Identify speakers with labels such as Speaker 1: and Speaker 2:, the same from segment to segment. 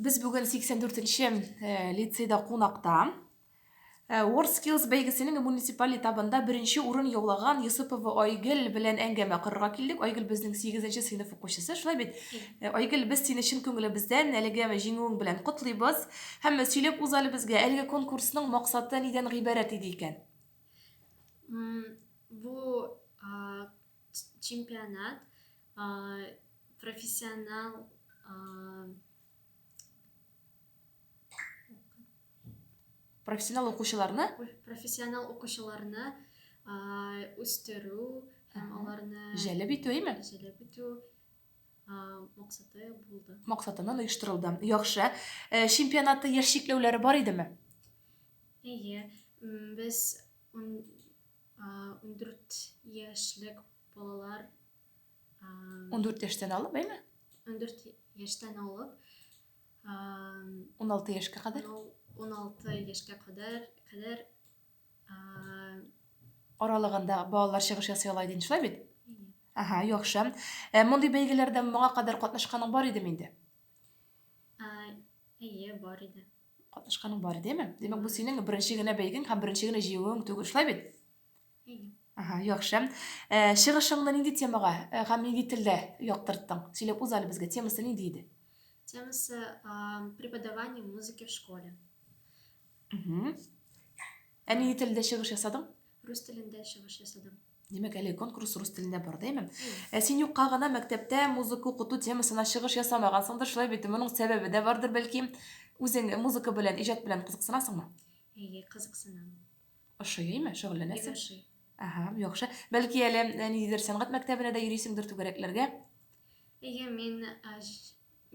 Speaker 1: Без бүген 84 нче э, лицейда кунакта. Э, World Skills бәйгесенең муниципаль этабында беренче урын яулаган Йосыпова Айгел белән әңгәмә корырга килдек. Айгел безнең 8 сыйныф укучысы, шулай бит? Э, Айгел, без сине чын күңелебездән әлеге җиңүең белән котлыйбыз. Һәм сөйләп үз әле безгә, әлеге конкурсның максаты нидән гыйбарәт иде икән?
Speaker 2: Бу чемпионат профессионал
Speaker 1: профессионал укучыларны профессионал
Speaker 2: укучыларны үстерү һәм аларны җәлеп итү әйме
Speaker 1: җәлеп итү
Speaker 2: максаты булды максатыннан оештырылды
Speaker 1: яхшы э, чемпионатта яшь чикләүләре бар идеме әйе
Speaker 2: без 14 яшьлек балалар
Speaker 1: 14 яшьтән алып, әйме? 14
Speaker 2: яшьтән алып 16
Speaker 1: яшькә кадәр. 16
Speaker 2: яшькә кадәр кадәр
Speaker 1: аралыгында балалар чыгыш ясый ала идең, шулай бит? Ага, яхшы. Ә мондый бәйгеләрдә моңа кадәр катнашканың бар идеме инде?
Speaker 2: Әйе, бар иде. Катнашканың бар
Speaker 1: идеме? Димәк, бу синең беренче генә бәйгең һәм беренче генә җыюың түгел, шулай бит? Ага, яхшы. Э, чыгышыңны нинди темага э, һәм нинди телдә яктырттың? Сөйләп үз әле безгә темасы нинди иде? Темасы
Speaker 2: э, преподавание музыки в школе. Угу.
Speaker 1: Ә нинди телдә чыгыш ясадың? Рус телендә
Speaker 2: чыгыш ясадым. Димәк, әле конкурс
Speaker 1: рус телендә бар, дәйме? Ә син юкка гына мәктәптә музыка укыту темасына чыгыш ясамагансыңдыр, шулай бит? Моның сәбәбе дә бардыр, бәлки. Үзең музыка белән, иҗат белән кызыксынасыңмы? Әйе, кызыксынам.
Speaker 2: Ошый,
Speaker 1: әйме, шөгыльләнәсең? Ошый. Ага,
Speaker 2: яхшы.
Speaker 1: Бәлки әле э, ниндидер сәнгать мәктәбенә дә йөрисеңдер түгәрәкләргә? Әйе, мин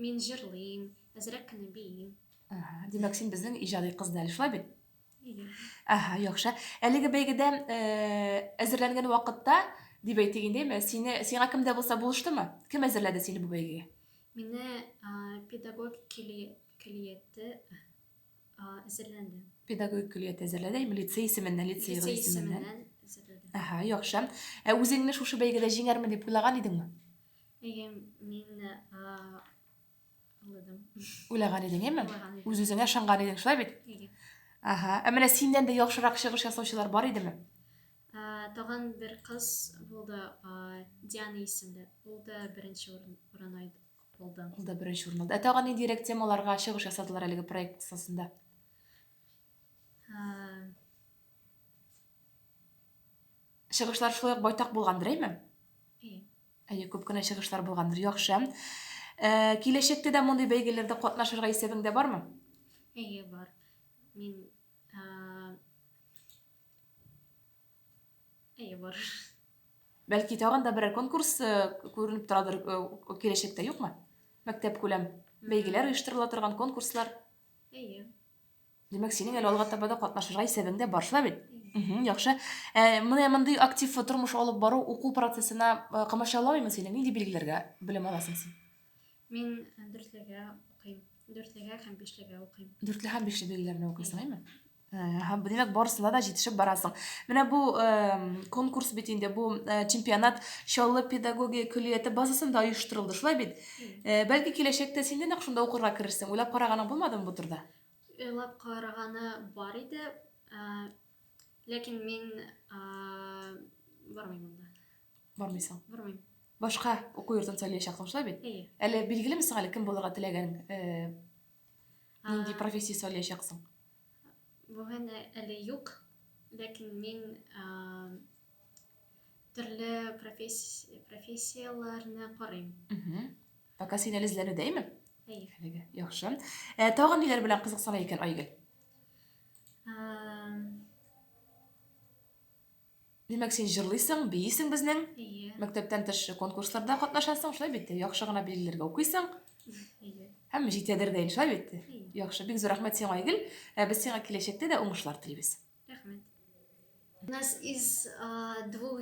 Speaker 2: мин җырлыйм, әзрәк кенә биим. Ага, димәк,
Speaker 1: син безнең иҗади кыз да әле, шулай бит? Ага, яхшы. Әлеге бәйгедә э, әзерләнгән вакытта, дип әйтик инде, әмма сине, сиңа кем дә булса булыштымы? Кем әзерләде сине бу бәйгегә? Мине
Speaker 2: а, педагог кили- килиятте а, әзерләнде. Педагогик
Speaker 1: көллият әзерләде, әйме, лицей исеменнән, лицей Лицей исеменнән. исеменнән әзерләде. Ага,
Speaker 2: яхшы.
Speaker 1: Ә үзеңне шушы бәйгедә җиңәрмен дип уйлаган идеңме? Әйе,
Speaker 2: мин а, Уйладым. Уйлаган идең, яме?
Speaker 1: Үз үзеңә шанган идең, шулай бит? Ага. Ә менә синнән дә яхшырак чыгыш ясаучылар бар идеме?
Speaker 2: Тагын бер кыз булды, Диана исемле. Ул да беренче урын алды. Ул да беренче урын
Speaker 1: алды. Ә тагын нинди рәк темаларга чыгыш ясадылар әлеге проект кысасында? Чыгышлар шулай ук байтак булгандыр, әйме? Әйе, күп кенә чыгышлар булгандыр. Яхшы. Э, Киләчәктә дә мондый бәйгеләрдә катнашырга исәбең дә бармы? Әйе, бар.
Speaker 2: Мин а, Әйе, бар. Бәлки
Speaker 1: тагын да берәр конкурс э, күренеп торадыр э, киләчәктә, юкмы? Мәктәп күләм бәйгеләр оештырыла торган конкурслар. Әйе. Димәк, синең әле алга таба да катнашырга исәбең дә бар шулай бит? Мгм, яхшы. Ә, менә мондый актив тормыш алып бару уку процессына э, комачауламыймы сине? Нинди билгеләргә белем аласың син? Мин э,
Speaker 2: дүртлегә укыйм. Дүртлегә һәм бишлегә укыйм. Дүртле һәм бишле билгеләрне
Speaker 1: укыйсың, әйме? Һәм димәк, барысына да җитешеп барасың. Менә бу э, конкурс бит инде, бу э, чемпионат Чаллы педагогия көллияте базасында оештырылды, шулай бит? Э, бәлки киләчәктә син дә нәкъ шунда укырга керерсең. Уйлап караганың булмадымы бу турыда? Уйлап
Speaker 2: караганы бар иде, ә, ләкин мин ә, бармыйм монда. Бармыйсың.
Speaker 1: Бармыйм.
Speaker 2: Башка уку
Speaker 1: йортын сайлаячаксың, шулай бит? Әйе. Әле билгелеме сиңа әле кем булырга теләгән? Э, нинди профессия сайлаячаксың?
Speaker 2: Бүген әле юк, ләкин мин ә, Төрле профессияләрне карыйм. Пока
Speaker 1: син әле эзләнүдәйме? Әйе. Әлегә. Яхшы. Ә, э, тагын ниләр белән кызыксына икән Айгөл? Димәк, син җырлыйсың, биисең безнең. Әйе. Мәктәптән тыш конкурсларда катнашасың, шулай бит? Яхшы гына билгеләргә укыйсың. Һәм җит ядер дә иншалла бит. Яхшы, бик зур рәхмәт сиңа, Айгөл. Ә без сиңа киләчәктә дә уңышлар телибез.
Speaker 2: Рәхмәт. У нас
Speaker 1: из
Speaker 2: двух